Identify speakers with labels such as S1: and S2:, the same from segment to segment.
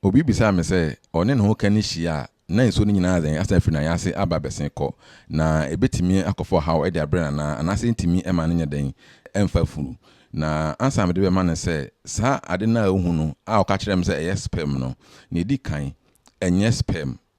S1: Obi bisaa me sɛ ɔne ne ho ka no hyia a, na nsuo no nyinaa adɛn asan afiri ne nan ase aba abɛsen kɔ, na ɛbɛtumi akɔfa ɔhaw de abrɛ no anaa? Anaasɛ ɛntumi mma no nyɛ dɛn? Ɛmfa funu. Na ansa na mede bɛma no sɛ, saa ade no a wohu no a ɔka kyerɛɛ me sɛ ɛyɛ sperm no, nea ɛdi kan, ɛnyɛ sperm.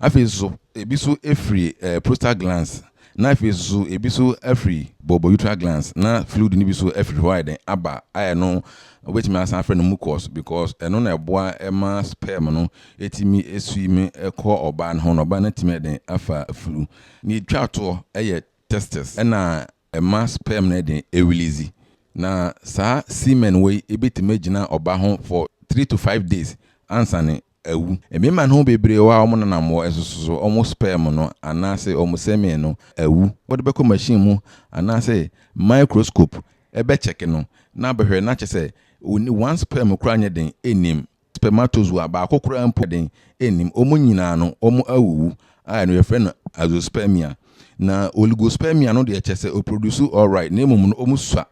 S1: Afei nso ebi nso firi eh, prostate glands na afei nso ebi nso afiri bɔbɔ uterine glands na fluid no bi nso afiri hɔ ayɛ dɛn aba ayɛ no wobɛtumi asan afrɛ no mucus because ɛno na ɛboa ɛma sperm no ɛtumi ɛsui me ɛkɔ ɔbaa no ho na ɔbaa no atumi ayɛ dɛn afa flu ne ɛtwa toɔ ɛyɛ testes ɛna ɛma sperm no de release, na saa semen wɔ yi bɛtumi agyina ɔba ho for three to five days ansa no awu. Mmarima no mu bebree wɔ a wɔn nanammoɔ ɛsoso wɔn sperm no anaase wɔn semen no awu, wode bɛkɔ machine mu anaase microscope bɛ check no na abɛhwɛ na kyerɛ sɛ one sperm koraa nyɛ den nnim. spermatozoa baako koraa mpo den nnim. Wɔn nyinaa no, wɔawuwu, a ɛno yɛfrɛ no azoospermia. Na oligospermia no deɛ, kyerɛ sɛ wɔproduce alright, na mmom no wɔsua.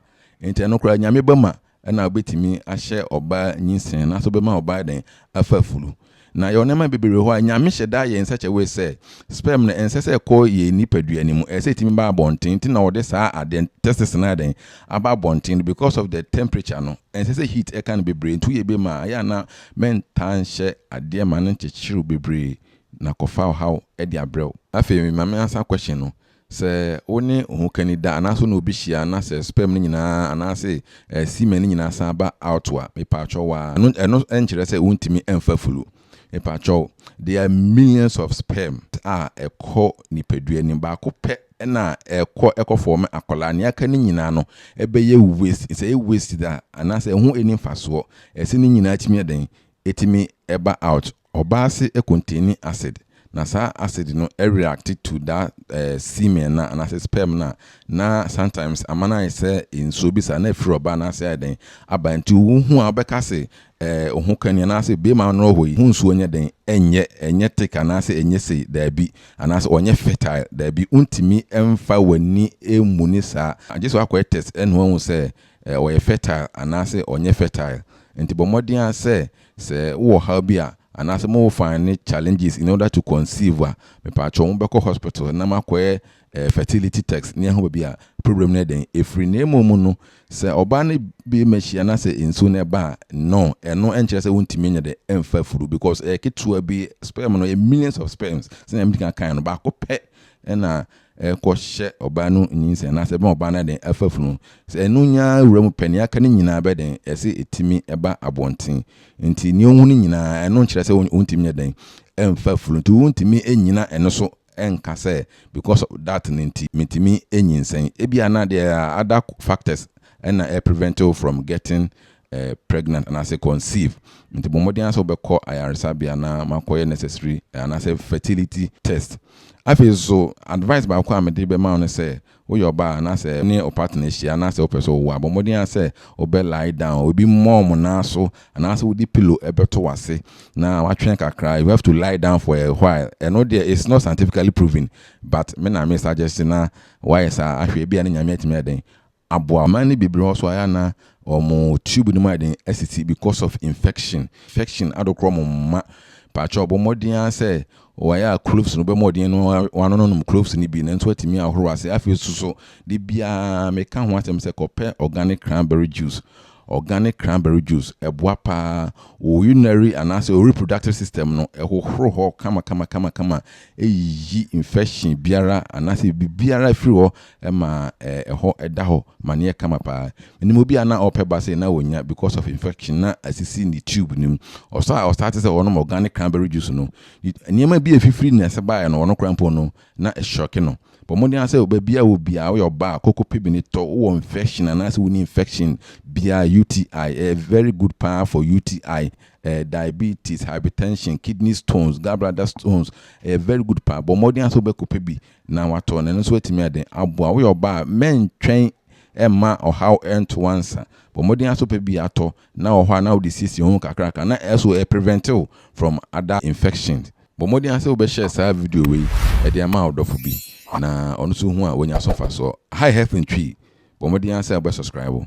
S1: Enti ɛno koraa, Nyame bɛma na wobɛtumi ahyɛ ɔbaa nyinsɛn anaasɛ wobɛma ɔbaa ayɛ dɛn? Afa afuru. Na yɛwɔ nneɛma bebree wɔ hɔ a, Nyame hyɛ da yɛ nsakyawee sɛ, sperm no, ɛnsɛ sɛ ɛkɔ yɛn nipadua no mu, ɛsɛ sɛ ɛtumi ba abɔnten. Nti na wɔde saa adeɛ, testes, no ayɛ dɛn? aba abɔnten no because of the temperature no ɛnsɛ sɛ heat ɛka no bebree nti woyɛ bi ma a ɛyɛ a na mɛntaa nhyɛ adeɛ ma no nkyekyerew bebree na kɔfa ɔhaw de abrɛ wo. Afei ma me answer question no, sɛ wo ne ohokani da anaasɛ wo ne obi hyia na sɛ sperm no nyinaa anaase semen no nyinaa san ba out a, mepaakyɛw waa, ɛno ɛno nkyerɛ sɛ wontumi mfa flu Mepakyɛw, there are millions of sperm a ɛkɔ nipadua no mu, baako pɛ na ɛkɔ ɛkɔ fɔɔme akwadaa, nea aka no nyinaa no ɛbɛyɛ waste, sɛ ɛyɛ waste de a anaasɛ ɛho ɛnni mfasoɔ, ɛsɛ ne nyinaa tumi yɛ dɛn? Ɛtumi ɛba out. Ɔbaa se ɛcontaini acid, na saa acid no ɛreacte to that semen no a anaasɛ sperm no a, na sometimes ama no ayɛ sɛ nsuo bi saa na afiri ɔbaa no ase ayɛ dɛn? Aba, nti wohu a wobɛka se Ɛɛ, wo ho ka ni, anaasɛ bue m'ano wɔ hɔ yi, ho nsuo nyɛ dɛn, ɛnyɛ, ɛnyɛ thick anaasɛ ɛnyɛ sei, daabi, anaasɛ ɔnyɛ fertile, daabi, wontumi mfa w'ani mmu no saa, gye sɛ woakɔyɛ test na woahu sɛ ɛɛ, ɔyɛ fertile anaasɛ ɔnyɛ fertile. Nti bɔ mmɔden ara sɛ, sɛ wowɔ ɔhaw bi a, anaasɛ mo wo find challenges in order to conceive a, mepaakyɛw mobɛkɔ hospital na moakɔyɛ ɛyɛ fertility text ne ɛho baabi a problem no yɛ dɛn ɛfiri na mmom mu no sɛ ɔbaa no bi ma hyia na sɛ nsuo no ɛba a no ɛno ɛnkyerɛ sɛ wontumi nyɛ dɛ ɛmfa furu because ɛyɛ ketewa bi sperm no yɛ millions of sperms sɛ na mdika kan no baako pɛ ɛna ɛkɔ hyɛ ɔbaa no nyinsɛn na sɛ ɛbɛn ɔbaa no ɛdɛn ɛfa furu no sɛ ɛno nyaa wura mu pɛ ne aka no nyinaa bɛ dɛn ɛsɛ ɛtumi ɛba abɔnten nti ne ɔhu no nyinaa ɛno nkyerɛ sɛ wontumi nyɛ dɛn ɛmfa furu nti wontumi ɛnyina ɛno so ɛnka sɛ because of that no nti mentumi nyinsɛn, ebia na there are other factors na ɛ prevent wo from getting pregnant anaasɛ conceive, nti bɔ mmɔden ara sɛ wobɛkɔ ayaresabea na makɔyɛ necessary anaasɛ fertility test. Afei nso advice baako a mede bɛma wo ne sɛ, Woyɛ ɔbaa a na sɛ wo ne wo partner hyia anaasɛ wopɛ sɛ wowo a, bɔ mmɔden ara sɛ wobɛ lie down, obi mmɔ wo nan so anaasɛ wode pillow bɛto w'ase na watwɛn kakra, you have to lie down for a while, ɛno deɛ it's not scientifically proven but me na me suggest na woayɛ saa ahwɛ ebia ne Nyame atumi ayɛ dɛn aboa wo. Mmaa no bebree wɔ hɔ nso a ɛyɛ a na wɔn tube no mu ayɛ den asisi because of infection, infection adokorɔ wɔn mma, mpakyɛw bɔ mmɔden ara sɛ Wɔayɛ a cloves no bɛma ɔden no wɔanononom cloves no bi na nso atumi ahoro ase. Afei nso so, da biara meka ho asɛm sɛ kɔpɛ organic cranberry juice. Organic cranberry juice, ɛboa paa. Wo urinary anaasɛ wo reproductive system no, ɛhohoro hɔ kamakamakamakama, ɛyiyi infection biara anaasɛ biribiara firi hɔ ma ɛhɔ da hɔ ma no yɛ kama paa. Menim obi a na ɔpɛ ba sei na wɔnnya because of infection na asisi ne tube no mu. Ɔsɔ a ɔstarte sɛ ɔnom organic cranberry juice no, nneɛma bi a ɛfifiri ne ase baeɛ no ɔno koraa mpo no na ɛhyɔke no. Bɔ mmɔden ara sɛ baabi a wɔ biara woyɛ ɔbaa a koko pebene tɔ wo wɔ infection anaasɛ wonni infection biara UTI ɛyɛ very good paa for UTI ɛɛ diabetes, hypertension, kidney stones, gallbladder stones ɛyɛ very good paa. Bɔ mmɔden ara sɛ wobɛkɔpɛ bi na watɔ na ɛno nso atumi ayɛ dɛn aboa wo. Woyɛ ɔbaa a mɛntwɛn ɛmma ɔhaw ɛnto wansa. Bɔ mmɔden ara sɛ wopɛ bi atɔ na wɔ hɔ a na wode siesie wo ho kakraka na ɛso ɛ prevent wo from other infections. Bɔ mmɔden ara sɛ wobɛ share saa video wei ɛde ama wo dɔfo bi na ɔno nso hu a wanya so mfasoɔ. Hi Health Ntwi, bɔ mmɔden ara sɛ wobɛ subscribe.